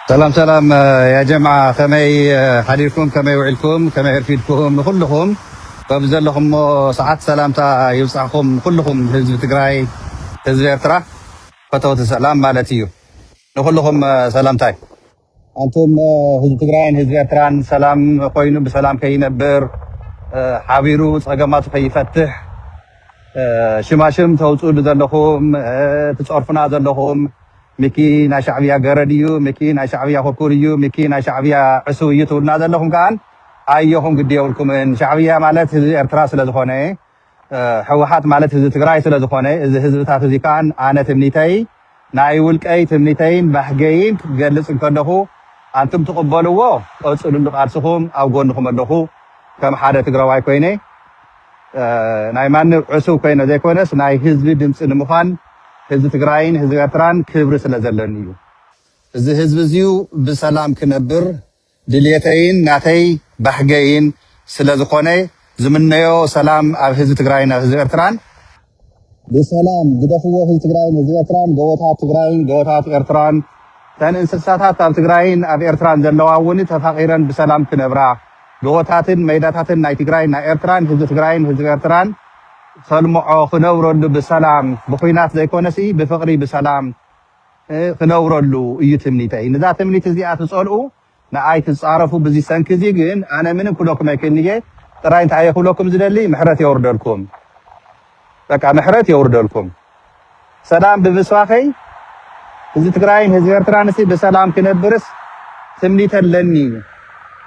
ሰላም ሰላም ያጀምዓ ከመይ ሓዲርኩም ከመይ ውዒልኩም ከመይ እርፊድኩም ንኩልኩም በብዘለኹሞ ሰዓት ሰላምታ ይብፃሕኹም ኩልኹም ህዝቢ ትግራይ ህዝቢ ኤርትራ ፈተውቲ ሰላም ማለት እዩ ንኩልኹም ሰላምታይ ኣንቱም ህዝቢ ትግራይን ህዝቢ ኤርትራን ሰላም ኮይኑ ብሰላም ከይነብር ሓቢሩ ፀገማቱ ከይፈትሕ ሽማሽም ተውፅእሉ ዘለኹም ትፀርፉና ዘለኹም ሚኪ ናይ ሻዕብያ ገረድ እዩ ሚኪ ናይ ሻዕብያ ኩርኩር እዩ ሚኪ ናይ ሻዕብያ ዕስው እዩ ትብሉና ዘለኹም ከዓን ኣየኹም ግዲ የብልኩምን ሻዕብያ ማለት ህዝቢ ኤርትራ ስለዝኾነ ሕውሓት ማለት ህዝቢ ትግራይ ስለዝኾነ እዚ ህዝብታት እዚ ከኣ ኣነ ትምኒተይ ናይ ውልቀይ ትምኒተይን ባህገይን ክገልፅ እንከለኹ ኣንቱም ትቕበልዎ ቀፅሉሉ ቃልስኹም ኣብ ጎንኹም ኣለኹ ከም ሓደ ትግራዋይ ኮይነ ናይ ማንም ዕሱብ ኮይነ ዘይኮነስ ናይ ህዝቢ ድምፂ ንምዃን ህዝቢ ትግራይን ህዝቢ ኤርትራን ክብሪ ስለዘለኒ እዩ። እዚ ህዝቢ እዚዩ ብሰላም ክነብር ድልየተይን ናተይ ባህገይን ስለ ዝኾነ ዝምነዮ ሰላም ኣብ ህዝቢ ትግራይን ኣብ ህዝቢ ኤርትራን። ብሰላም ግደፍዎ ህዝቢ ትግራይን ህዝቢ ኤርትራን ጎቦታት ትግራይን ጎቦታት ኤርትራን እተን እንስሳታት ኣብ ትግራይን ኣብ ኤርትራን ዘለዋ እውን ተፋቒረን ብሰላም ክነብራ ጎቦታትን መይዳታትን ናይ ትግራይን ናይ ኤርትራን ህዝቢ ትግራይን ህዝቢ ኤርትራን ከልምዖ ክነብረሉ ብሰላም ብኹናት ዘይኮነሲ ብፍቕሪ ብሰላም ክነብረሉ እዩ ትምኒተይ። ንዛ ትምኒት እዚኣ ትጸልኡ ንኣይ ትጻረፉ ብዚ ሰንኪ እዚ ግን ኣነ ምንም ክብለኩም ኣይክእልን እየ ጥራይ እንታይ እየ ክብለኩም ዝደሊ ምሕረት የውርደልኩም በቃ ምሕረት የውርደልኩም ሰላም ብምስባኸይ ህዝቢ ትግራይን ህዝቢ ኤርትራን ሲ ብሰላም ክነብርስ ትምኒት ኣለኒ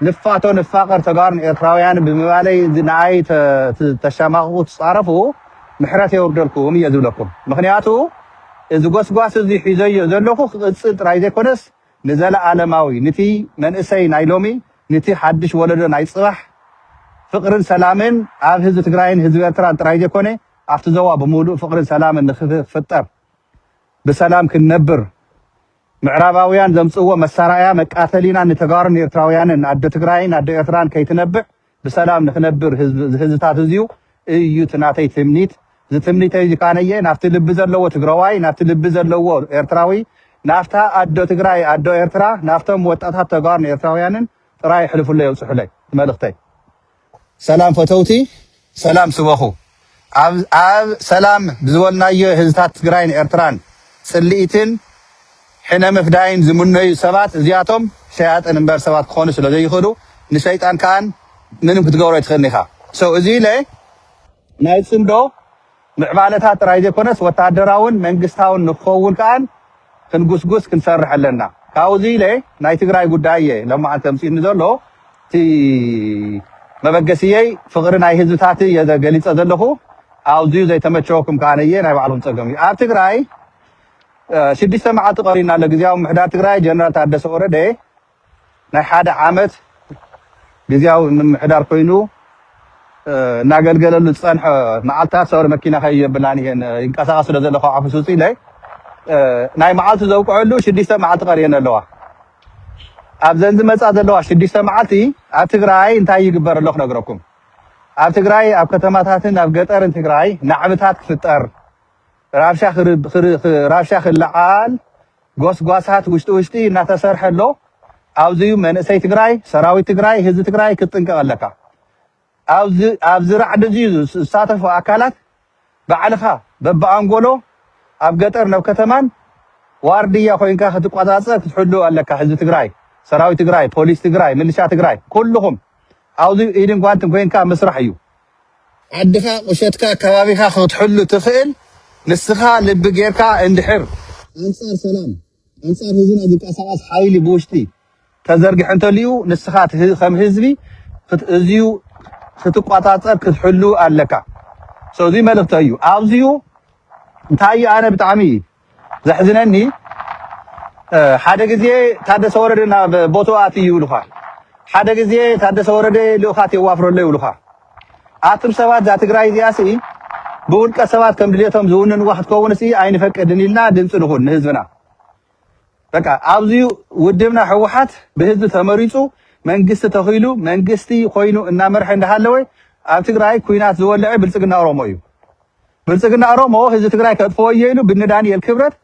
ንፋቶ ንፋቀር ተጋሩን ኤርትራውያን ብምባለይ ንኣይ ተሻማቕቑ ትፃረፉ ምሕረት የውርደልኩም እየ ዝብለኩም ምክንያቱ እዚ ጎስጓስ እዚ ሒዘዮ ዘለኹ ክቕጽል ጥራይ ዘይኮነስ ንዘለኣለማዊ ንቲ መንእሰይ ናይ ሎሚ ንቲ ሓድሽ ወለዶ ናይ ጽባሕ ፍቕርን ሰላምን ኣብ ህዝቢ ትግራይን ህዝቢ ኤርትራን ጥራይ ዘይኮነ ኣብቲ ዞባ ብምሉእ ፍቕርን ሰላምን ንክፍጠር ብሰላም ክንነብር ምዕራባውያን ዘምጽእዎ መሳራእያ መቃተሊና ንተጋሩን ኤርትራውያንን ኣደ ትግራይን ኣደ ኤርትራን ከይትነብዕ ብሰላም ንክነብር ዝህዝታት እዙይ እዩ እቲ ናተይ ትምኒት እዚ ትምኒተይ እዚ ካነየ ናፍቲ ልቢ ዘለዎ ትግራዋይ ናፍቲ ልቢ ዘለዎ ኤርትራዊ ናፍታ ኣዶ ትግራይ ኣዶ ኤርትራ ናፍቶም ወጣታት ተጋሩን ኤርትራውያንን ጥራይ የሕልፉለይ የብፅሑለይ መልእኽተይ ሰላም ፈተውቲ ሰላም ስበኹ። ኣብ ሰላም ብዝበልናዮ ህዝታት ትግራይን ኤርትራን ጽልኢትን ሕነ ምፍዳይን ዝምነዩ ሰባት እዚኣቶም ሸያጥን እምበር ሰባት ክኾኑ ስለ ዘይኽእሉ ንሸይጣን ከኣን ምንም ክትገብሮ ኣይትኽእልን ኢኻ ሰው እዚ ኢለ ናይ ጽምዶ ምዕባለታት ጥራይ ዘይኮነስ ወተሃደራውን መንግስታውን ንክኸውን ከኣን ክንጉስጉስ ክንሰርሕ ኣለና ካውዚ ኢለ ናይ ትግራይ ጉዳይ እየ ሎማዓንቲ ኣምፂኡኒ ዘሎ እቲ መበገሲየይ ፍቅሪ ናይ ህዝብታትይ እየ ገሊፀ ዘለኩ ኣውዚዩ ዘይተመቸወኩም ካኣ ነየ ናይ ባዕልኩም ፀገም እዩ ኣብ ትግራይ ሽዱሽተ ማዓልቲ ቀርዩና ኣሎ ግዝያዊ ምምሕዳር ትግራይ ጀነራል ታደሰ ወረደ ናይ ሓደ ዓመት ግዝያዊ ምምሕዳር ኮይኑ እናገልገለሉ ዝፀንሐ መዓልትታት ሰውሪ መኪና ከይብላን እየን ይንቀሳቐስ ስለ ዘሎ ካብ ዓፈስ ውፅእ ኢለይ ናይ መዓልቱ ዘብቅዐሉ ሽዱሽተ መዓልቲ ቀርየን ኣለዋ ኣብዘን ዝመፃ ዘለዋ ሽዱሽተ መዓልቲ ኣብ ትግራይ እንታይ ይግበር ኣሎ ክነግረኩም ኣብ ትግራይ ኣብ ከተማታትን ኣብ ገጠርን ትግራይ ናዕብታት ክፍጠር ራብሻ ክልዓል ጎስጓሳት ውሽጢ ውሽጢ እናተሰርሐ ኣሎ ኣብዚ እዩ መንእሰይ ትግራይ ሰራዊት ትግራይ ህዝቢ ትግራይ ክትጥንቀቅ ኣለካ ኣብዚ ኣብዚ ራዕዲ እዚ ዝሳተፉ ኣካላት ባዕልኻ በብኣንጎሎ ኣብ ገጠር ናብ ከተማን ዋርድያ ኮይንካ ክትቆፃፀር ክትሕሉ ኣለካ ህዝቢ ትግራይ ሰራዊት ትግራይ ፖሊስ ትግራይ ምልሻ ትግራይ ኩልኹም ኣብዚ ኢድን ጓንትን ኮይንካ ምስራሕ እዩ ዓድኻ ቁሸትካ ከባቢኻ ክትሕሉ ትኽእል ንስኻ ልቢ ጌርካ እንድሕር ኣንጻር ሰላም ኣንጻር ህዝብና ዝንቀሳቀስ ሓይሊ ብውሽጢ ተዘርጊሑ እንተልዩ ንስኻ ከም ህዝቢ እዚዩ ክትቆጻጸር ክትሕሉ ኣለካ። ሶ እዚ መልእኽተይ እዩ። ኣብዚዩ እንታይ እዩ ኣነ ብጣዕሚ ዘሕዝነኒ ሓደ ግዜ ታደሰ ወረደ ናብ ቦትኡ ኣትይ ይብሉኻ፣ ሓደ ግዜ ታደሰ ወረደ ልኡኻት የዋፍሮ ኣሎ ይብሉኻ። ኣቱም ሰባት እዛ ትግራይ እዚኣ ሲ ብውልቀ ሰባት ከም ድሌቶም ዝውንንዋ ክትከውን ሲ ኣይንፈቅድን ኢልና ድምፂ ንኹን ንህዝብና። በቃ ኣብዚ ውድብና ህወሓት ብህዝቢ ተመሪፁ መንግስቲ ተኺሉ መንግስቲ ኮይኑ እናመርሐ እንዳሃለወ ኣብ ትግራይ ኩናት ዝወልዐ ብልፅግና ኦሮሞ እዩ። ብልፅግና ኦሮሞ ህዝቢ ትግራይ ከጥፍኦ እየ ኢሉ ብኒ ዳንኤል ክብረት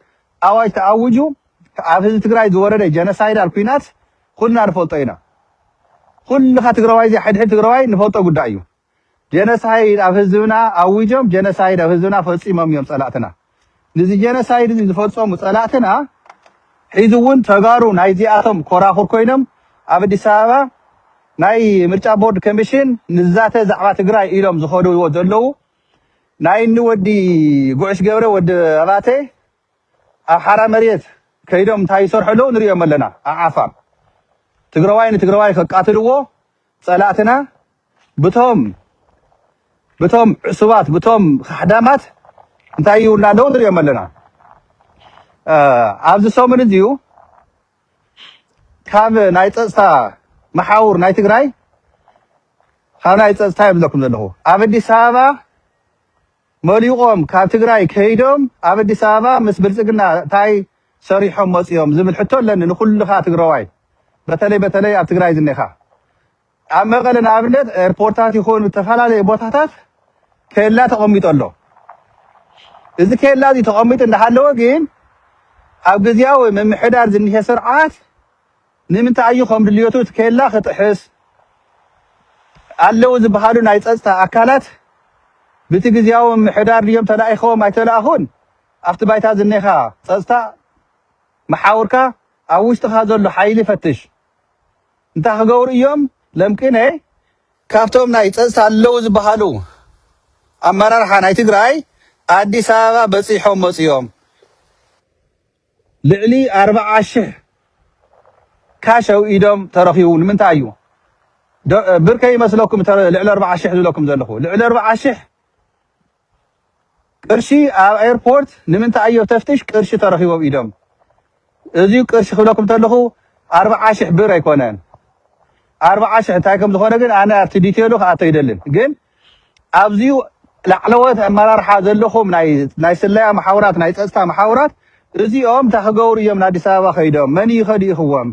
ኣዋጅ ተኣውጁ ኣብ ህዝቢ ትግራይ ዝወረደ ጀነሳይዳል ኩናት ኩልና ንፈልጦ ኢና። ኩልኻ ትግራዋይ እዚ ሕድሕድ ትግራዋይ ንፈልጦ ጉዳይ እዩ። ጀነሳይድ ኣብ ህዝብና ኣዊጆም ጀነሳይድ ኣብ ህዝብና ፈፂሞም እዮም ፀላእትና። ንዚ ጀነሳይድ እዚ ዝፈፀሙ ፀላእትና ሒዚ እውን ተጋሩ ናይዚኣቶም ኮራኹር ኮይኖም ኣብ ኣዲስ ኣበባ ናይ ምርጫ ቦርድ ኮሚሽን ንዛተ ዛዕባ ትግራይ ኢሎም ዝኸድዎ ዘለዉ ናይ እኒ ወዲ ጉዕሽ ገብረ ወዲ ኣባተ ኣብ ሓራ መሬት ከይዶም እንታይ ይሰርሑ ኣለዉ ንሪኦም ኣለና ኣብ ዓፋር ትግራዋይ ንትግራዋይ ከቃትልዎ ጸላእትና ብቶም ብቶም ዕሱባት ብቶም ካሕዳማት እንታይ ይብሉና ኣለዉ ንሪኦም ኣለና ኣብዚ ሰሙን እዚዩ ካብ ናይ ፀፅታ መሓውር ናይ ትግራይ ካብ ናይ ፀፅታ እየ ዝብለኩም ዘለኹ ኣብ ኣዲስ ኣበባ መሊቖም ካብ ትግራይ ከይዶም ኣብ ኣዲስ ኣበባ ምስ ብልፅግና እንታይ ሰሪሖም መፅኦም ዝብል ሕቶ ኣለኒ ንኩልኻ ትግራዋይ በተለይ በተለይ ኣብ ትግራይ ዝኔኻ ኣብ መቐለ ንኣብነት ኤርፖርታት ይኹን ዝተፈላለዩ ቦታታት ኬላ ተቐሚጡ ኣሎ። እዚ ኬላ እዚ ተቐሚጡ እንዳሃለወ ግን ኣብ ግዜያዊ ምምሕዳር ዝኒሀ ስርዓት ንምንታይ እዩ ከም ድልየቱ እቲ ኬላ ክጥሕስ ኣለዉ ዝበሃሉ ናይ ፀፅታ ኣካላት ብቲ ግዜያዊ ምምሕዳር ድዮም ተላኢኸዎም ኣይተላእኹን ኣብቲ ባይታ ዝኒኻ ፀፅታ መሓውርካ ኣብ ውሽጥኻ ዘሎ ሓይሊ ፈትሽ እንታይ ክገብሩ እዮም ለምቅነ ካብቶም ናይ ፀፅታ ኣለው ዝበሃሉ ኣመራርሓ ናይ ትግራይ ኣዲስ ኣበባ በፂሖም መፅዮም ልዕሊ ኣርብዓ ሽሕ ካሽ ኣውኢዶም ተረኺቡ ንምንታይ እዩ ብርከ ይመስለኩም ልዕሊ ኣርብዓ ሽሕ ዝብለኩም ዘለኹ ልዕሊ ኣርብዓ ሽሕ ቅርሺ ኣብ ኤርፖርት ንምንታይ ኣዮ ተፍትሽ ቅርሺ ተረኪቡ ኣብ ኢዶም እዚዩ ቅርሺ ክብለኩም ተለኩ ኣርብዓ ሽሕ ብር ኣይኮነን ኣርብዓ ሽሕ እንታይ ከም ዝኮነ ግን ኣነ ኣብቲ ዲቴሉ ክኣቶ ይደልን ግን ኣብዚዩ ላዕለዎት ኣመራርሓ ዘለኹም ናይ ስለያ መሓውራት ናይ ፀፅታ መሓውራት እዚኦም እንታይ ክገብሩ እዮም ንኣዲስ ኣበባ ከይዶም መን እዩ ከዲእኽዎም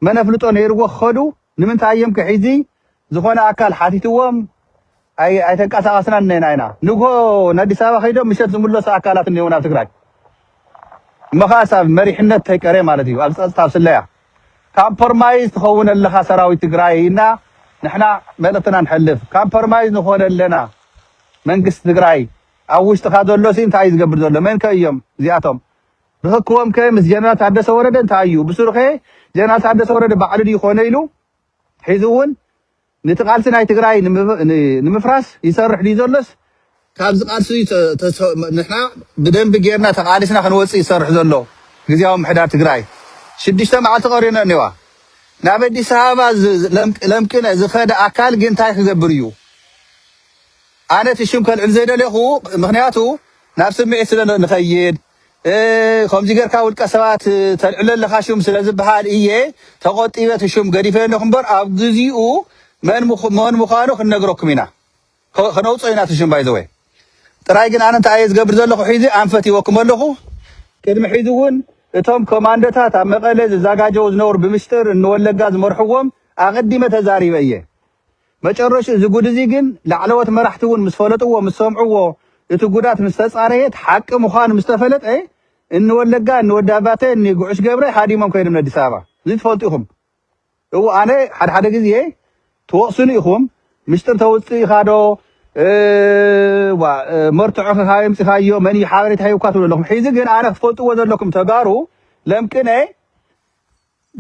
መን ኣፍልጦ ነይርዎ ክኸዱ ንምንታይ እዬም ከ ሒዚ ዝኾነ ኣካል ሓቲትዎም ኣይተንቀሳቀስናን እኔና ኢና ንግሆ ንኣዲስ ኣበባ ከይዶም ምሸት ዝምለሱ ኣካላት እኔዉ ናብ ትግራይ መኻስ ኣብ መሪሕነት ተይቀሬ ማለት እዩ ኣብ ፀፅታ ኣብ ስለያ ካምፖርማይዝ ትኸውን ኣለኻ ሰራዊት ትግራይ እና ንሕና መልእኽትና ንሕልፍ ካምፖርማይዝ ንኾነ ኣለና መንግስቲ ትግራይ ኣብ ውሽጥኻ ዘሎሲ እንታይ እዩ ዝገብር ዘሎ መን ከ እዮም እዚኣቶም ርኽክቦም ከ ምስ ጀነራል ታደሰ ወረደ እንታይ እዩ? ብስሩ ከ ጀነራል ታደሰ ወረደ ባዕሉ ድዩ ኮነ ኢሉ ሒዙ እውን ነቲ ቃልሲ ናይ ትግራይ ንምፍራስ ይሰርሕ ድዩ ዘሎስ ካብዚ ቃልሲ እዚ ንሕና ብደንቢ ጌርና ተቓሊስና ክንወፅእ ይሰርሕ ዘሎ ግዝያዊ ምምሕዳር ትግራይ? ሽዱሽተ መዓልቲ ቀሪዩና እኒዋ ናብ ኣዲስ ኣበባ ለምቅነ ዝኸደ ኣካል ግን እንታይ ክገብር እዩ? ኣነ እቲ ሽም ከልዕል ዘይደለኹ ምኽንያቱ ናብ ስምዒት ስለ ንኸይድ። ከምዚ ጌርካ ውልቀ ሰባት ተልዕሎ ኣለኻ ሹም ስለ ዝበሃል እየ ተቖጢበ እቲ ሹም ገዲፈዮ ኣለኹ እምበር ኣብ ግዚኡ መን ምዃኑ ክንነግረኩም ኢና ከነውፅኦ ኢና እቲ ሹም ባይዘወ ጥራይ ግን ኣነ እንታይ እየ ዝገብር ዘለኹ ሒዚ ኣንፈት ይወኩም ኣለኹ ቅድሚ ሒዚ እውን እቶም ኮማንዶታት ኣብ መቐለ ዝዛጋጀው ዝነበሩ ብምስጢር እንወለጋ ዝመርሕዎም ኣቐዲመ ተዛሪበ እየ መጨረሽኡ እዚ ጉድ እዚ ግን ላዕለዎት መራሕቲ እውን ምስ ፈለጥዎ ምስ ሰምዕዎ እቲ ጉዳት ምስ ተፃረየ እቲ ሓቂ ምዃኑ ምስ ተፈለጠ እኒ ወለጋ እኒ ወዲ ኣባተ እኒ ጉዑሽ ገብረ ሃዲሞም ከይዶም ነዲስ ኣበባ እዚ ትፈልጡ ኢኹም እው ኣነ ሓደ ሓደ ግዜ ትወቕሱኒ ኢኹም ምስጢር ተውፅኢኻ ዶ መርትዖ ከካበይ ኣምፂኻዮ መን እዩ ሓበሬታ ሂብካ ትብሉ ኣለኹም ሕዚ ግን ኣነ ክትፈልጥዎ ዘለኩም ተጋሩ ለምቅነ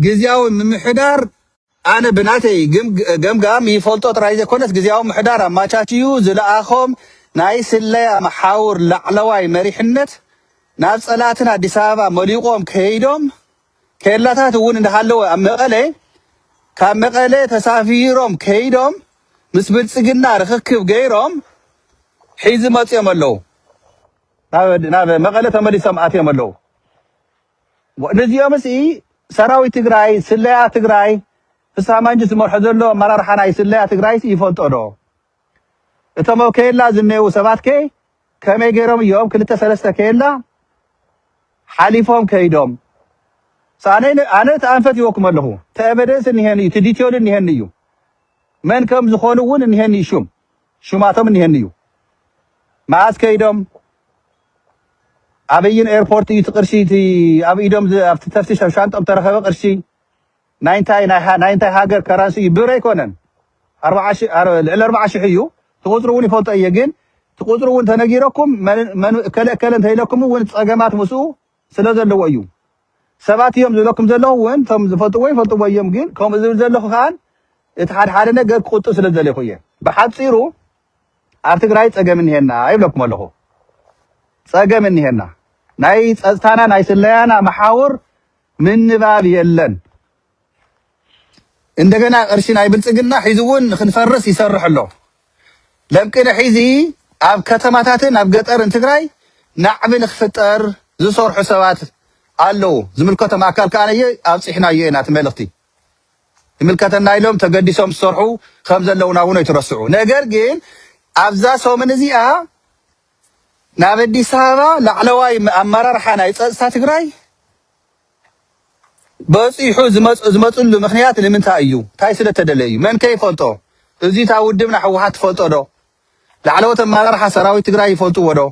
ግዝያዊ ምምሕዳር ኣነ ብናተይ ገምጋም ይፈልጦ ጥራይ ዘይኮነስ ግዝያዊ ምምሕዳር ኣማቻችዩ ዝለኣኾም ናይ ስለያ መሓውር ላዕለዋይ መሪሕነት ናብ ፀላእትና ኣዲስ ኣበባ መሊቖም ከይዶም ኬላታት እውን እንዳሃለወ ኣብ መቐለ ካብ መቐለ ተሳፊሮም ከይዶም ምስ ብልፅግና ርኽክብ ገይሮም ሒዚ መፅኦም ኣለዉ ናብ መቐለ ተመሊሶም ኣትዮም ኣለዉ። ነዚኦምስ እዪ ሰራዊት ትግራይ ስለያ ትግራይ ፍስሃ ማንጁስ ዝመርሖ ዘሎ ኣመራርሓ ናይ ስለያ ትግራይስ ይፈልጦ ዶ? እቶም ኣብ ከየላ ዝኔዉ ሰባት ከ ከመይ ገይሮም እዮም ክልተ ሰለስተ ከየላ ሓሊፎም ከይዶም? ሳነይ ኣነ እቲ ኣንፈት ይወኩም ኣለኹ እቲ ኤቨደንስ እኒሀኒ እዩ እቲ ዲቴሉ እኒሀኒ እዩ መን ከም ዝኾኑ እውን እኒሀኒ እዩ ሹም ሹማቶም እኒሀኒ እዩ መዓዝ ከይዶም ኣበይን ኤርፖርት እዩ እቲ ቅርሺ እቲ ኣብ ኢዶም ዝ- ኣብቲ ተፍትሽ ኣብ ሻንጦም ተረኸበ ቅርሺ ናይ እንታይ ናይ ሃ- ናይ እንታይ ሃገር ከራንሲ እዩ ብር ኣይኮነን ኣርባዓ ሺ- ኣር- ልዕሊ ኣርባዓ ሽሕ እዩ እቲ ቁፅሪ እውን ይፈልጦ እየ ግን እቲ ቁፅሪ እውን ተነጊረኩም መን- መን- እከለ እከለ እንተኢለኩም እውን ፀገማት ምስኡ ስለ ዘለዎ እዩ ሰባት እዮም ዝብለኩም ዘለኹ ውን እቶም ዝፈልጥዎ ይፈልጥዎ እዮም ግን ከምኡ ዝብል ዘለኹ ከኣ እቲ ሓደ ሓደ ነገር ክቁጥብ ስለ ዝደለኹ እየ ብሓጺሩ ኣብ ትግራይ ጸገም እኒሄና ይብለኩም ኣለኹ ጸገም እኒሄና ናይ ጸጥታና ናይ ስለያና መሓውር ምንባብ የለን እንደገና ቅርሺ ናይ ብልፅግና ሒዙ እውን ንክንፈርስ ይሰርሕ ኣሎ። ለምቅነ ሒዚ ኣብ ከተማታትን ኣብ ገጠርን ትግራይ ናዕቢ ንክፍጠር ዝሰርሑ ሰባት ኣለዉ። ዝምልከቶም ኣካል ከዓ ነየ ኣብፂሕናዮ ኢና እቲ መልእኽቲ ይምልከተና ኢሎም ተገዲሶም ዝሰርሑ ከም ዘለውና እውን ኣይትረስዑ። ነገር ግን ኣብዛ ሰሙን እዚኣ ናብ ኣዲስ ኣበባ ላዕለዋይ ኣመራርሓ ናይ ፀፅታ ትግራይ በጺሑ ዝመጽሉ ምክንያት ንምንታይ እዩ ታይ ስለ ተደለ እዩ መን ከ ይፈልጦ እዙይ እታ ውድብና ሕወሓት ትፈልጦ ዶ ላዕለዎት ኣመራርሓ ሰራዊት ትግራይ ይፈልጥዎ ዶ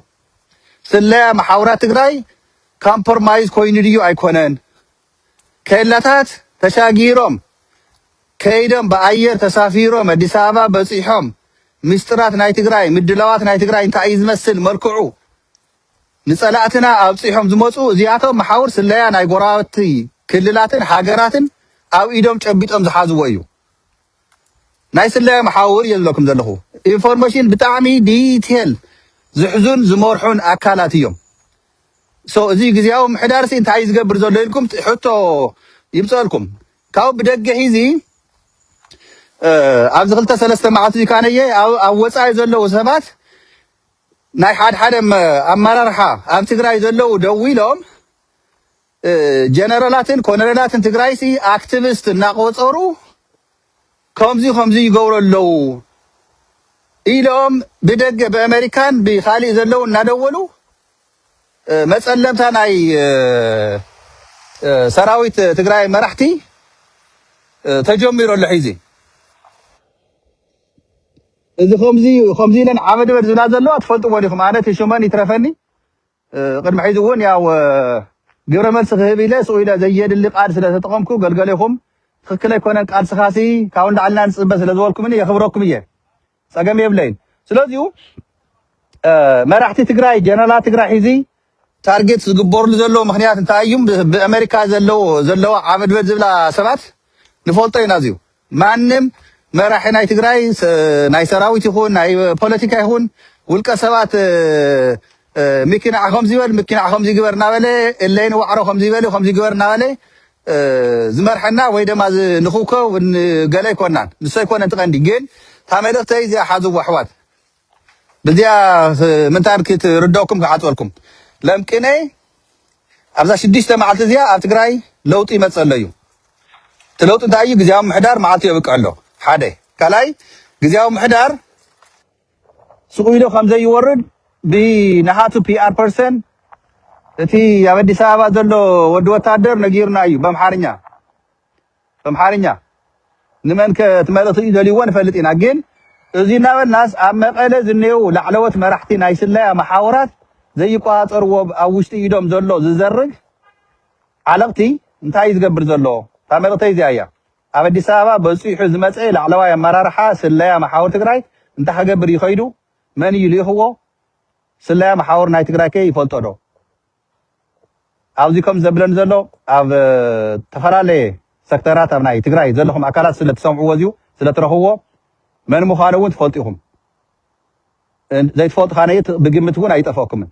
ስለያ መሓውራት ትግራይ ካምፖርማይዝ ኮይኑ ድዩ ኣይኮነን ኬላታት ተሻጊሮም ከይዶም ብኣየር ተሳፊሮም ኣዲስ ኣበባ በፂሖም ምስጢራት ናይ ትግራይ ምድላዋት ናይ ትግራይ እንታይ እዩ ዝመስል መልክዑ ንጸላእትና ኣብጺሖም ዝመጹ እዚኣቶም መሓውር ስለያ ናይ ጎረባብቲ ክልላትን ሃገራትን ኣብ ኢዶም ጨቢጦም ዝሓዝዎ እዩ። ናይ ስለያ መሓውር እየ ዝብለኩም ዘለኹ። ኢንፎርሜሽን ብጣዕሚ ዲቴል ዝሕዙን ዝመርሑን ኣካላት እዮም። ሶ እዚ ግዜያዊ ምሕዳር ሲ እንታይ ዝገብር ዘሎ ኢልኩም ሕቶ ይምፀልኩም ካብ ብደገ ሂዚ ኣብዚ ክልተ ሰለስተ መዓልቲ እዚ ካነየ ኣብ ወፃኢ ዘለዉ ሰባት ናይ ሓድሓደ ኣመራርሓ ኣብ ትግራይ ዘለዉ ደው ኢሎም ጀነራላትን ኮነሬላትን ትግራይሲ ኣክቲቪስት እናቆፀሩ ከምዚ ከምዚ ይገብሩ ኣለዉ ኢሎም ብደገ ብኣሜሪካን ብካሊእ ዘለዉ እናደወሉ መፀለምታ ናይ ሰራዊት ትግራይ መራሕቲ ተጀሚሩ ኣሎ ሒዚ እዚ ከምዚ እዩ ከምዚ ኢለን ዓበድበድ ዝብላ ዘለዋ ትፈልጥዎ ዲኹም ኣነ እቲ ሽመን ይትረፈኒ ቅድሚ ሕዚ እውን ያው ግብረ መልሲ ክህብ ኢለ ስኡ ኢለ ዘየድሊ ቃል ስለ ተጠቐምኩ ገልገሌኹም ትኽክል ኣይኮነን ቃልስኻሲ ካብ ንላዕልና ንፅበ ስለ ዝበልኩምኒ የኽብረኩም እየ ፀገም የብለይን ስለዚሁ መራሕቲ ትግራይ ጀነራላት ትግራይ ሒዚ ታርጌት ዝግበርሉ ዘለዉ ምክንያት እንታይ እዩ? ብኣመሪካ ዘለዎ ዘለዋ ዓበድበድ ዝብላ ሰባት ንፈልጦ ኢና። እዚዩ ማንም መራሒ ናይ ትግራይ ናይ ሰራዊት ይኹን ናይ ፖለቲካ ይኹን ውልቀ ሰባት ሚኪ ንዓ ከምዚ በል ሚኪ ንዓ ከምዚ ግበር እናበለ እለይ ንዋዕሮ ከምዚ በል ከምዚ ግበር እናበለ ዝመርሐና ወይ ደማ ንኽውከው ገለ ኣይኮናን። ንሱ ኣይኮነን ትቐንዲ ግን እታ መልእኽተይ እዚኣ ሓዝዋ ኣሕዋት። ብዚኣ ምንታን ክትርደኩም ክሓጽበልኩም ለምቅኔ ኣብዛ ሽዱሽተ መዓልቲ እዚኣ ኣብ ትግራይ ለውጢ ይመጽእ ኣሎ እዩ። እቲ ለውጢ እንታይ እዩ? ግዝያዊ ምሕዳር መዓልቱ የብቅዕ ኣሎ ሓደ። ካልኣይ ግዝያዊ ምሕዳር ስቕ ኢሉ ከም ዘይወርድ ብናሃቱ ፒኣር ፐርሰን እቲ ኣብ ኣዲስ ኣበባ ዘሎ ወዲ ወታደር ነጊሩና እዩ በምሓርኛ። እምሓርኛ ንመንከ እቲ መልእኽቲ እዩ ደልዩዎ ንፈልጥ ኢና ግን እዙይ እናበልናስ ኣብ መቐለ ዝኔዉ ላዕለዎት መራሕቲ ናይ ስለያ መሓውራት ዘይቆፃፀርዎ ኣብ ውሽጢ ኢዶም ዘሎ ዝዘርግ ዓለቕቲ እንታይ እዩ ዝገብር ዘሎ እታ መልእኽተይ እዚኣ እያ ኣብ ኣዲስ ኣበባ በፂሑ ዝመፀ ላዕለዋይ ኣመራርሓ ስለያ መሓውር ትግራይ እንታይ ክገብር እዩ ከይዱ መን እዩ ልኢኽዎ ስለያ መሓውር ናይ ትግራይ ከ ይፈልጦ ዶ ኣብዚ ከም ዘብለኒ ዘሎ ኣብ ተፈላለየ ሰክተራት ኣብ ናይ ትግራይ ዘለኹም ኣካላት ስለ ትሰምዕዎ እዚኡ ስለ ትረኽብዎ መን ምዃኑ እውን ትፈልጡ ኢኹም ዘይትፈልጡ ካነ ብግምት እውን ኣይጠፍኦኩምን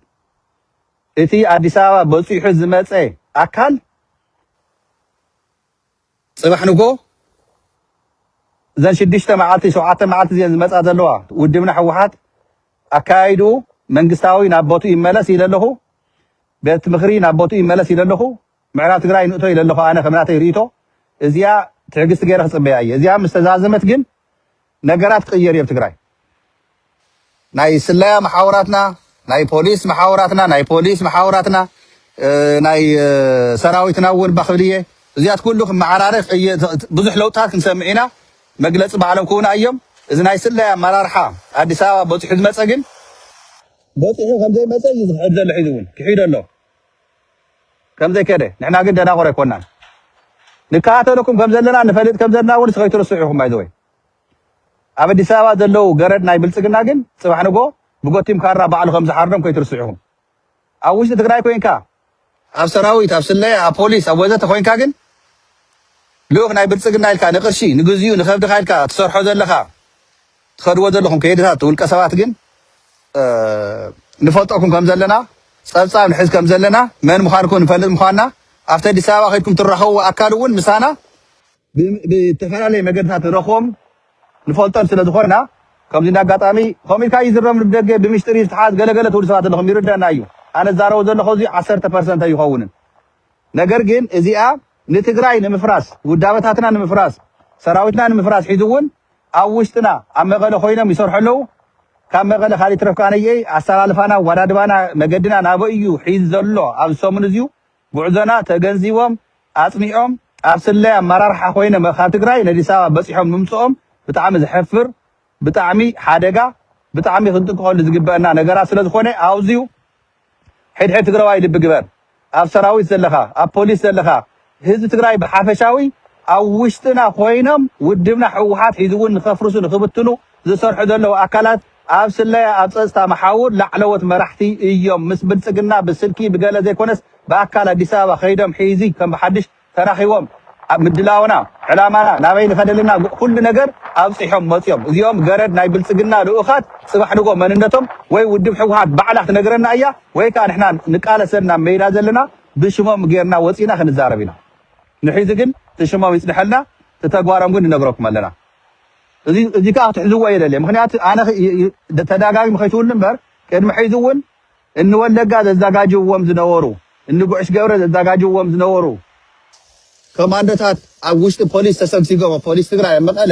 እቲ ኣዲስ ኣበባ በፂሑ ዝመፀ ኣካል ጽባሕ ንግሆ እዘን ሽዱሽተ መዓልቲ ሸውዓተ መዓልቲ እዚኤን ዝመጻ ዘለዋ ውድብና ህወሓት ኣከያይድኡ መንግስታዊ ናብ ቦትኡ ይመለስ ኢለ ኣለኹ። ቤት ምኽሪ ናብ ቦትኡ ይመለስ ኢለ ኣለኹ። ምዕራብ ትግራይ ንእቶ ኢለ ኣለኹ ኣነ ከም ናተይ ርእይቶ እዚኣ ትዕግስቲ ገይረ ክጽበያ እየ። እዚኣ ምስ ተዛዘመት ግን ነገራት ክቅየር እዩኣብ ትግራይ ናይ ስለያ መሓውራትና ናይ ፖሊስ መሓውራትና ናይ ፖሊስ መሓውራትና ናይ ሰራዊትና እውን ባክብል እየ እዚኣት ኩሉ ክመዓራረፍ እየ ብዙሕ ለውጥታት ክንሰምዕ ኢና መግለፂ ባዕሎም ክውና እዮም እዚ ናይ ስለያ ኣመራርሓ ኣዲስ ኣበባ በፂሑ ዝመፀ ግን በፂሑ ከምዘይመፀ እዩ ዝክሕድ ዘሎ ሒዚ እውን ክሒዶ ኣሎ ከምዘይከደ ንሕና ግን ደናቑር ኣይኮናን ንከታተለኩም ከምዘለና ንፈልጥ ከምዘለና እውን ከይትርስዑ ኢኹም ባይዘወይ ኣብ ኣዲስ ኣበባ ዘለው ገረድ ናይ ብልፅግና ግን ፅባሕ ንጎ ብጎቲም ካራ ባዕሉ ከምዝሓርዶም ከይትርስዑ ኢኹም ኣብ ውሽጢ ትግራይ ኮንካ ኣብ ሰራዊት ኣብ ስለያ ኣብ ፖሊስ ኣብ ወዘተ ኮንካ ግን ልኡክ ናይ ብልፅግና ኢልካ ንቅርሺ ንግዚኡ ንከብድካ ኢልካ ትሰርሖ ዘለካ ትኸድዎ ዘለኹም ከይድታት ውልቀ ሰባት ግን ንፈልጠኩም ከም ዘለና ጸብጻብ ንሕዝ ከም ዘለና መን ምዃንኩም ንፈልጥ ምዃንና ኣብቲ ኣዲስ ኣበባ ከድኩም ትራኸብዎ ኣካል እውን ምሳና ብዝተፈላለየ መገድታት ንረኽቦም ንፈልጦም ስለ ዝኾንና ከምዚ እንዳ ኣጋጣሚ ከምኡ ኢልካ ይዝረብ ንደገ ብምሽጢር እዩ ዝተሓዝ ገለገለ ትብሉ ሰባት ኣለኹም ይርዳና እዩ ኣነ ዛረቦ ዘለኹ እዚ ዓሰርተ ፐርሰንት ኣይኸውንን ነገር ግን እዚኣ ንትግራይ ንምፍራስ ውዳበታትና ንምፍራስ ሰራዊትና ንምፍራስ ሒዙ እውን ኣብ ውሽጥና ኣብ መቐለ ኮይኖም ይሰርሑ ኣለዉ ካብ መቐለ ካሊእ ይትረፍ ከኣ ነየኢ ኣሰላልፋና ኣዋዳድባና መገድና ናበይ እዩ ሒዝ ዘሎ ኣብዚ ሰሙን እዚዩ ጉዕዞና ተገንዚቦም ኣጽኒዖም ኣብ ስለያ ኣመራርሓ ኮይኖም ካብ ትግራይ ነዲስ ኣበባ በጺሖም ምምጽኦም ብጣዕሚ ዘሕፍር ብጣዕሚ ሓደጋ ብጣዕሚ ክንጥንቀቐሉ ዝግበእና ነገራት ስለዝኾነ ኣውዚዩ ሕድሕድ ትግራዋይ ልቢ ግበር ኣብ ሰራዊት ዘለኻ ኣብ ፖሊስ ዘለኻ ህዝቢ ትግራይ ብሓፈሻዊ ኣብ ውሽጥና ኮይኖም ውድብና ሕውሓት ሒዝውን ንኸፍርሱ ንኽብትኑ ዝሰርሑ ዘለዉ ኣካላት ኣብ ስለያ ኣብ ፀፅታ መሓውር ላዕለዎት መራሕቲ እዮም ምስ ብልፅግና ብስልኪ ብገለ ዘይኮነስ ብኣካል ኣዲስ ኣበባ ከይዶም ሒዚ ከም ብሓድሽ ተራኺቦም ኣብ ምድላውና ዕላማና ናበይ ንኸደልና ኩሉ ነገር ኣብጺሖም መጽዮም እዚኦም ገረድ ናይ ብልጽግና ልኡኻት ጽባሕ ንግሆ መንነቶም ወይ ውድብ ሕውሓት ባዕላ ትነግረና እያ ወይ ከኣ ንሕና ንቃለሰን ናብ መይዳ ዘለና ብሽሞም ጌርና ወጺና ክንዛረብ ኢና ንሒዚ ግን ትሽሞም ይጽንሐልና ትተግባሮም ግን ንነግረኩም ኣለና እዚ እዚ ከኣ ክትሕዝዎ የደልየ ምክንያቱ ኣነ ተዳጋጊም ከይትውሉ እምበር ቅድሚ ሕዚ እውን እኒ ወለጋ ዘዛጋጅውዎም ዝነበሩ፣ እኒ ጉዕሽ ገብረ ዘዛጋጅውዎም ዝነበሩ ኮማንዶታት ኣብ ውሽጢ ፖሊስ ተሰግሲጎም ኣብ ፖሊስ ትግራይ ኣብ መቐለ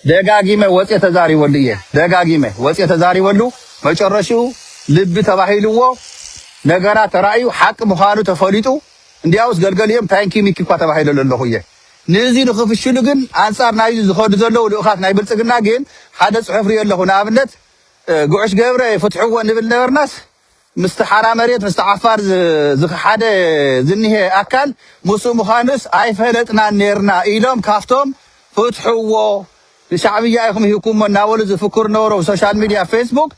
ደጋጊመ ወፅየ ተዛሪበሉ እየ። ደጋጊመ ወፅየ ተዛሪበሉ መጨረሽኡ ልቢ ተባሂልዎ ነገራት ተራእዩ ሓቂ ምዃኑ ተፈሊጡ እንዲያውስ ገልገሊኦም ታንኪ ሚኪ እኳ ተባሂለሉ ኣለኹ እየ። ንእዙይ ንኽፍሽሉ ግን ኣንፃር ናይዙ ዝኸዱ ዘለዉ ልኡኻት ናይ ብልፅግና ግን ሓደ ፅሑፍ ሪኦ ኣለኹ ንኣብነት ጉዑሽ ገብረ ፍትሕዎ ንብል ነበርናስ ምስቲ ሓራ መሬት ምስቲ ዓፋር ዝኸሓደ ዝኒሀ ኣካል ምስኡ ምዃኑስ ኣይፈለጥናን ኔርና ኢሎም ካብቶም ፍትሕዎ ንሻዕብያ ኢኹም ሂብኩሞ እናበሉ ዝፍክሩ ነበሩ ብሶሻል ሚድያ ፌስቡክ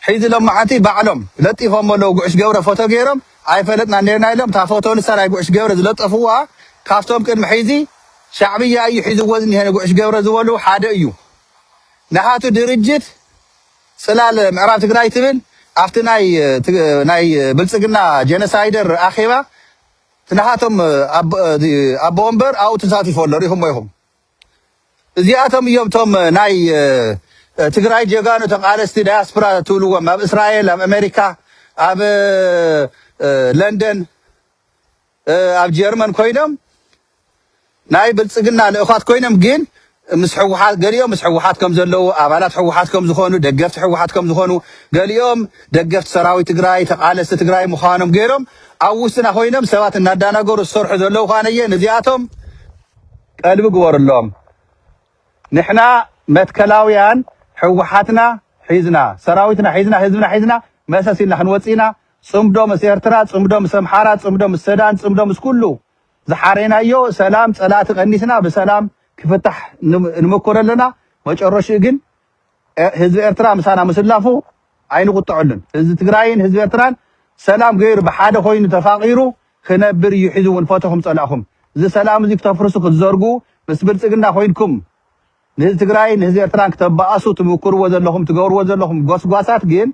ሒዚ ሎማዓንቲ ባዕሎም ለጢፎሞ ኣለዉ ጉዑሽ ገብረ ፎቶ ገይሮም ኣይፈለጥናን ኔርና ኢሎም እታ ፎቶ ንሳ ናይ ጉዑሽ ገብረ ዝለጠፍዋ ካብቶም ቅድሚ ሒዚ ሻዕብያ እዩ ሒዝዎ ዝኒሀ ንጉዑሽ ገብረ ዝበሉ ሓደ እዩ ናቱ ድርጅት ጽላል ምዕራብ ትግራይ ትብል ኣብቲ ናይ ብልጽግና ጀነሳይደር ኣኼባ ናሃቶም ኣቦ ወንበር ኣብኡ ተሳቲፉ ኣሎ ሪኢኹሞ ኢኹም እዚኣቶም እዮም እቶም ናይ ትግራይ ጀጋኑ ተቃለስቲ ዳያስፕራ ትብልዎም ኣብ እስራኤል ኣብ ኣሜሪካ ኣብ ለንደን ኣብ ጀርመን ኮይኖም ናይ ብልጽግና ልእዃት ኮይኖም ግን ምስ ሕወሓት ገሊኦም ምስ ሕወሓት ከም ዘለዉ ኣባላት ሕወሓት ከም ዝኾኑ ደገፍቲ ሕወሓት ከም ዝኾኑ ገሊኦም ደገፍቲ ሰራዊት ትግራይ ተቃለስቲ ትግራይ ምዃኖም ገይሮም ኣብ ውስጥና ኮይኖም ሰባት እናዳናገሩ ዝሰርሑ ዘለዉ ኳነየ ንዚኣቶም ቀልቢ ግበርሎም ንሕና መትከላውያን ሕወሓትና ሒዝና ሰራዊትና ሒዝና ህዝብና ሒዝና መሰስ ኢልና ክንወጽእ ኢና ጽምዶ ምስ ኤርትራ ጽምዶ ምስ ኣምሓራ ጽምዶ ምስ ሰዳን ጽምዶ ምስ ኩሉ ዝሓሬናዮ ሰላም ጸላእቲ ቀኒስና ብሰላም ክፍታሕ ንመኮር ኣለና መጨረሽኡ ግን ህዝቢ ኤርትራ ምሳና ምስላፉ ኣይንቁጠዐሉን ህዝቢ ትግራይን ህዝቢ ኤርትራን ሰላም ገይሩ ብሓደ ኮይኑ ተፋቂሩ ክነብር እዩ ሒዙ እውን ፈተኹም ጸላእኹም እዚ ሰላም እዚ ክተፍርሱ ክትዘርጉ ምስ ብልጽግና ኮይንኩም ንህዚ ትግራይን ንህዚ ኤርትራን ክተባኣሱ ትምኩርዎ ዘለኹም ትገብርዎ ዘለኹም ጎስጓሳት ግን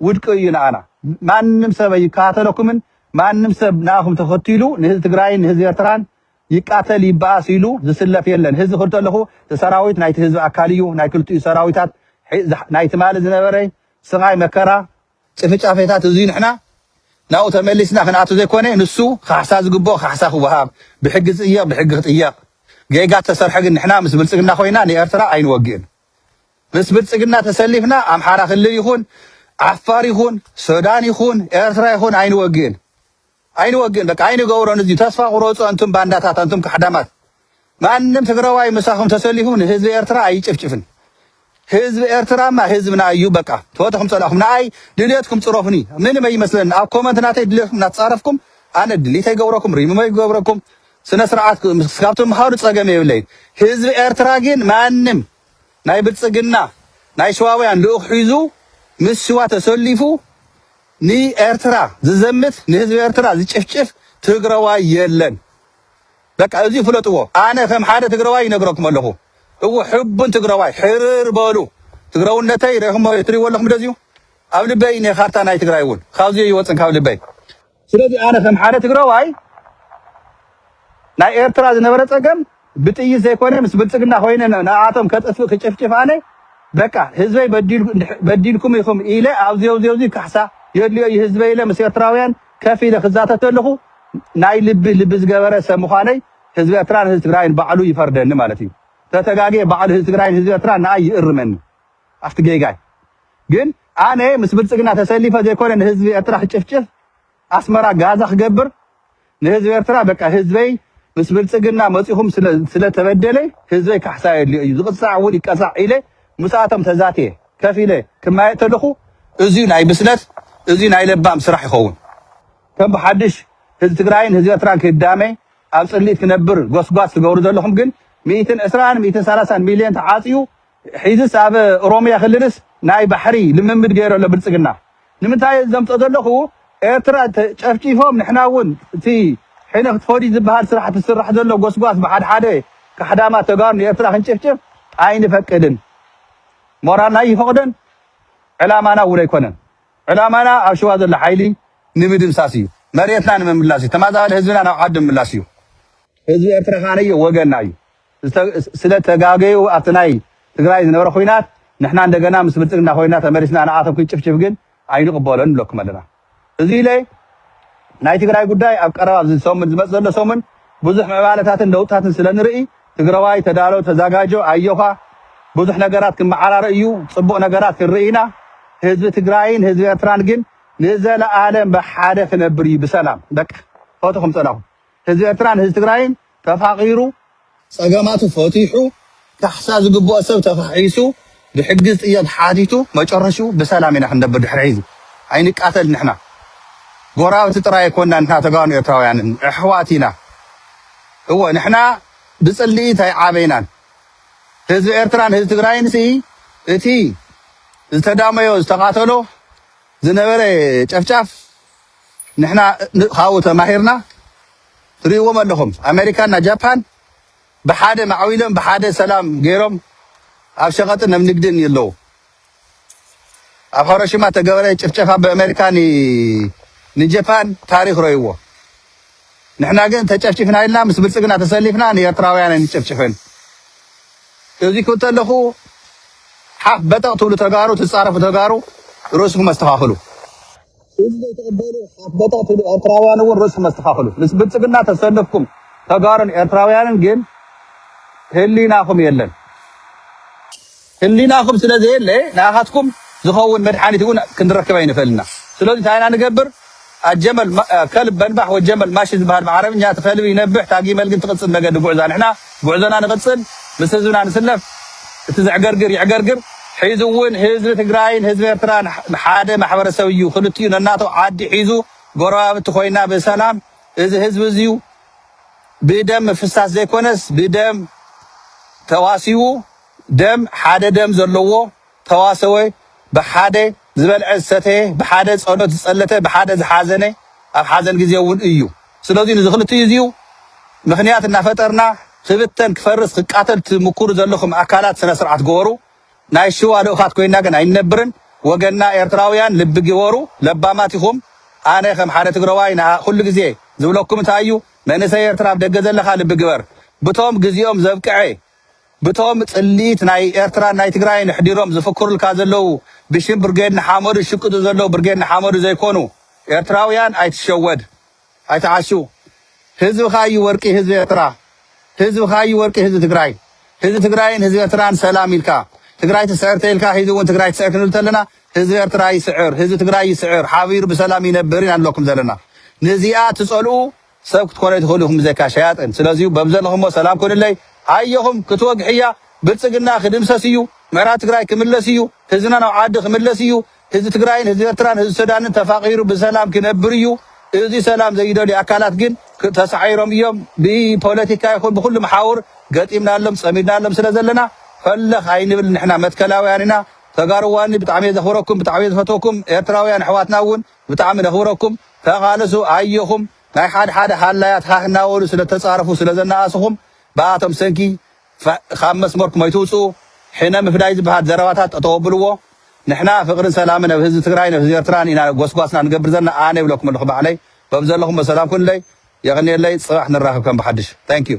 ውድቂ እዩ ንኣና ማንም ሰብ ኣይከታተለኩምን ማንም ሰብ ንኣኹም ተኸቲሉ ንህዚ ትግራይን ንህዚ ኤርትራን ይቃተል ይባኣስ ኢሉ ዝስለፍ የለን ህዚ ክል ተለኹ ሰራዊት ናይቲ ህዝቢ ኣካል እዩ ናይ ክልቲኡ ሰራዊታት ናይ ትማሊ ዝነበረ ስቓይ መከራ ጭፍጫፌታት እዙይ ንሕና ናብኡ ተመሊስና ክንኣቱ ዘይኮነ ንሱ ካሕሳ ዝግብኦ ካሕሳ ክወሃብ ብሕጊ ዝጥየቅ ብሕጊ ክጥየቅ ጌጋ ተሰርሐ ግን ንሕና ምስ ብልፅግና ኮይና ንኤርትራ ኣይንወግእን ምስ ብልፅግና ተሰሊፍና ኣምሓራ ክልል ይኹን ዓፋር ይኹን ሶዳን ይኹን ኤርትራ ይኹን ኣይንወግእን ኣይንወግእን በቃ ኣይንገብሮን እዚ ተስፋ ቁረጹ ኣንቱም ባንዳታት ኣንቱም ካሕዳማት ማንም ትግራዋይ ምሳኹም ተሰሊፉ ንህዝቢ ኤርትራ ኣይጭፍጭፍን ህዝቢ ኤርትራማ ህዝብና እዩ በቃ ትፈተኹም ጸላእኹም ንኣይ ድልየትኩም ጽረፉኒ ምንም ኣይመስለኒ ኣብ ኮመንት ናተይ ድልየትኩም እናተጻረፍኩም ኣነ ድሊት ኣይገብረኩም ሪሙም ኣይገብረኩም ስነ ስርዓት ካብቶም ምኻኑ ጸገም የብለይን ህዝቢ ኤርትራ ግን ማንም ናይ ብልጽግና ናይ ሸዋውያን ልኡኽ ሒዙ ምስ ሽዋ ተሰሊፉ ንኤርትራ ዝዘምት ንህዝቢ ኤርትራ ዝጭፍጭፍ ትግረዋይ የለን በቃ እዙይ ፍለጥዎ ኣነ ከም ሓደ ትግረዋይ ይነግረኩም ኣለኹ እወ ሕቡን ትግረዋይ ሕርር በሉ ትግረውነተይ ሬኹሞ ትሪእዎ ኣለኹም ደዚዩ ኣብ ልበይ ኔ ካርታ ናይ ትግራይ እውን ካብዚ ይወፅን ካብ ልበይ ስለዚ ኣነ ከም ሓደ ትግረዋይ ናይ ኤርትራ ዝነበረ ፀገም ብጥይት ዘይኮነ ምስ ብልፅግና ኮይነ ንኣኣቶም ከጥፍእ ክጭፍጭፍ ኣነ በቃ ህዝበይ በዲልኩም ኢኹም ኢለ ኣብዚ ኣብዚ ኣብዚ ካሕሳ የድልዮ እዩ ህዝበይ ኢለ ምስ ኤርትራውያን ከፍ ኢለ ክዛተ ተለኹ ናይ ልቢ ልቢ ዝገበረ ሰብ ምዃነይ ህዝቢ ኤርትራን ህዝቢ ትግራይን ባዕሉ ይፈርደኒ ማለት እዩ። ተተጋግየ ባዕሉ ህዝቢ ትግራይን ህዝቢ ኤርትራን ንኣይ ይእርመኒ ኣብቲ ጌጋይ። ግን ኣነ ምስ ብልጽግና ተሰሊፈ ዘይኮነ ንህዝቢ ኤርትራ ክጭፍጭፍ ኣስመራ ጋዛ ክገብር ንህዝቢ ኤርትራ በቃ ህዝበይ ምስ ብልጽግና መጺኹም ስለ ስለ ተበደለ ህዝበይ ካሕሳ የድልዮ እዩ ዝቕጻዕ እውን ይቀጻዕ ኢለ ምስኣቶም ተዛትየ ከፍ ኢለ ክማየጥ ተለኹ እዚዩ ናይ ብስለት እዚዩ ናይ ለባም ስራሕ ይኸውን ከም ብሓድሽ ህዝቢ ትግራይን ህዝቢ ኤርትራን ክዳመ ኣብ ጽልኢት ክነብር ጎስጓስ ትገብሩ ዘለኹም ግን ሚእትን ዕስራን ሚእትን ሰላሳን ሚልዮን ተዓጽዩ ሒዝስ ኣብ ኦሮምያ ክልልስ ናይ ባሕሪ ልምምድ ገይሩ ኣሎ ብልጽግና ንምንታይ እየ ዘምጾ ዘለኩ ኤርትራ ጨፍጪፎም ንሕና ውን እቲ ሕነ ክትፈድዩ ዝብሃል ስራሕቲ ዝስራሕ ዘሎ ጎስጓስ ብሓደ ሓደ ካሕዳማት ተጋሩ ንኤርትራ ክንጭፍጭፍ ኣይንፈቅድን ሞራልና ኣይፈቅዶን ዕላማና እውን ኣይኮነን ዕላማና ኣብ ሸዋ ዘሎ ሓይሊ ንምድምሳስ እዩ መሬትና ንምምላስ እዩ ተማዛባሊ ህዝብና ናብ ዓዱ ምምላስ እዩ ህዝቢ ኤርትራ ከኣ ወገንና እዩ ስለ ተጋገዩ ኣብቲ ናይ ትግራይ ዝነበረ ኹናት ንሕና እንደገና ምስ ብልፅግና ኮይና ተመሊስና ንኣቶም ክንጭፍጭፍ ግን ኣይንቕበሎን ንብለኩም ኣለና እዙይ ኢለ ናይ ትግራይ ጉዳይ ኣብ ቀረባ ኣብዚ ሰሙን ዝመፅ ዘሎ ሰሙን ብዙሕ ምዕባለታትን ለውጥታትን ስለ ንርኢ ትግራዋይ ተዳሎ ተዛጋጆ ኣዮኻ ብዙሕ ነገራት ክመዓራረ እዩ ፅቡቕ ነገራት ክንርኢ ኢና ህዝቢ ትግራይን ህዝቢ ኤርትራን ግን ንዘለኣለም ብሓደ ክነብር እዩ ብሰላም በቃ ፈትኹም ፀላኹም ህዝቢ ኤርትራን ህዝቢ ትግራይን ተፋቒሩ፣ ጸገማቱ ፈቲሑ፣ ካሕሳ ዝግብኦ ሰብ ተኻሒሱ፣ ብሕጊ ዝጥየቕ ሓቲቱ፣ መጨረሽኡ ብሰላም ኢና ክንነብር ድሕሪ ሕዚ። ኣይንቃተል ንሕና። ጎራብቲ ጥራይ ኣይኮናን ንሕና ተጋኑ ኤርትራውያንን ኣሕዋት ኢና። እወ ንሕና ብጽልኢት ኣይዓበይናን። ህዝቢ ኤርትራን ህዝቢ ትግራይንሲ እቲ ዝተዳመዮ ዝተቓተሎ ዝነበረ ጨፍጫፍ ንሕና ካብኡ ተማሂርና፣ ትሪእዎም ኣለኹም ኣመሪካ እና ጃፓን ብሓደ ማዕቢሎም ብሓደ ሰላም ገይሮም ኣብ ሸቀጥን ኣብ ንግድን የለው ኣብ ሀሮሽማ ተገበረ ጭፍጨፋ ብኣመሪካ ን ንጀፓን ታሪኽ ረይዎ ንሕና ግን ተጨፍጭፍና ኢልና ምስ ብልፅግና ተሰሊፍና ንኤርትራውያን ኣይንጨፍጭፍን እዚ ክተለኹ ሓፍ በጠቕ ትብሉ ተጋሩ ትፃረፉ ተጋሩ ርእስኩም ኣስተኻኽሉ። ህዝቢ ትቕበሉ ኣበታትሉ ኤርትራውያን እውን ርእስኩም ኣስተኻኽሉ ምስ ብልጽግና ተሰልፍኩም ተጋሩን ኤርትራውያንን ግን ህሊናኹም የለን ህሊናኹም ስለ ዘየለ ንኣኻትኩም ዝኸውን መድሓኒት እውን ክንረክብ ኣይንኽእልን ኢና ስለዚ እንታይ ኢና ንገብር ኣጀመል ከልብ በንባሕ ወጀመል ማሺ ዝበሃል ብዓረብኛ እቲ ከልቢ ይነብሕ ታጊመል ግን ትቕጽል መገዲ ጉዕዛ ንሕና ጉዕዞና ንቅፅል ምስ ህዝብና ንስለፍ እቲ ዘዕገርግር ይዕገርግር ሒዙ እውን ህዝቢ ትግራይን ህዝቢ ኤርትራን ሓደ ማሕበረሰብ እዩ ክልቲኡ ነናቱ ዓዲ ሒዙ ጎረባብቲ ኮይና ብሰላም እዚ ህዝቢ እዙይ ብደም ምፍሳስ ዘይኮነስ ብደም ተዋሲቡ ደም ሓደ ደም ዘለዎ ተዋሰወ ብሓደ ዝበልዐ ዝሰተየ ብሓደ ጸሎት ዝጸለተ ብሓደ ዝሓዘነ ኣብ ሓዘን ግዜ እውን እዩ ስለዙይ ንዚ ክልቲኡ እዚኡ ምክንያት እናፈጠርና ክብተን ክፈርስ ክቃተል ትምኩሩ ዘለኹም ኣካላት ስነ ስርዓት ግበሩ ናይ ሽዋ ልኡኻት ኮይና ግን ኣይንነብርን ወገንና ኤርትራውያን ልቢ ግበሩ ለባማት ኢኹም ኣነ ከም ሓደ ትግረዋይ ንኣ ኩሉ ግዜ ዝብለኩም እንታይ እዩ መንእሰይ ኤርትራ ኣብ ደገ ዘለኻ ልቢ ግበር ብቶም ግዚኦም ዘብቅዐ ብቶም ጽልኢት ናይ ኤርትራን ናይ ትግራይን ኣሕዲሮም ዝፍክሩልካ ዘለው ብሽም ብርጌድ ንሓመዱ ዝሽቅጡ ዘለው ብርጌድ ንሓመዱ ዘይኮኑ ኤርትራውያን ኣይትሸወድ ኣይትዓሹ ህዝብኻ እዩ ወርቂ ህዝቢ ኤርትራ ህዝብኻ እዩ ወርቂ ህዝቢ ትግራይ ህዝቢ ትግራይን ህዝቢ ኤርትራን ሰላም ኢልካ ትግራይ ትስዕር ተኢልካ ሂዚ እውን ትግራይ ትስዕር ክንብል ተለና ህዝቢ ኤርትራ ይስዕር ህዝቢ ትግራይ ይስዕር ሓቢሩ ብሰላም ይነብር ኢና ንብለኩም ዘለና ንዚኣ ትጸልኡ ሰብ ክትኮኑ ኣይትኽእሉ ኢኹም ብዘይካ ሸያጥን ስለዚዩ በብዘለኹሞ ሰላም ኩኑለይ ኣየኹም ክትወግሕ እያ ብልፅግና ክድምሰስ እዩ ምዕራብ ትግራይ ክምለስ እዩ ህዝብና ናብ ዓዲ ክምለስ እዩ ህዝቢ ትግራይን ህዝቢ ኤርትራን ህዝቢ ሱዳንን ተፋቒሩ ብሰላም ክነብር እዩ እዙይ ሰላም ዘይደልዩ ኣካላት ግን ተሳዒሮም እዮም ብፖለቲካ ይኹን ብኩሉ መሓውር ገጢምናሎም ፀሚድናሎም ስለ ዘለና ፈለኽ ኣይንብል ንሕና መትከላውያን ኢና ተጋሩዋኒ ብጣዕሚ እየ ዘኽብረኩም ብጣዕሚ እየ ዝፈትወኩም ኤርትራውያን ኣሕዋትና እውን ብጣዕሚ ነኽብረኩም ተቓለሱ ኣዮኹም ናይ ሓደ ሓደ ሃላያት ሃህ እናበሉ ስለ እተጻረፉ ስለ ዘናኣእስኹም ብኣቶም ሰንኪ ካብ መስመርኩም ኣይትውጽኡ ሕነ ምፍዳይ ዝበሃል ዘረባታት ጠጠው ኣብልዎ ንሕና ፍቕርን ሰላምን ኣብ ህዝቢ ትግራይን ኣብ ህዝቢ ኤርትራን ኢና ጎስጓስና ንገብር ዘለና ኣነ ይብለኩም ኣለኹ ባዕለይ በብዘለኹሞ ሰላም ኩንለይ የቕንየለይ ጽባሕ ንራኸብ ከም ብሓድሽ Thank you።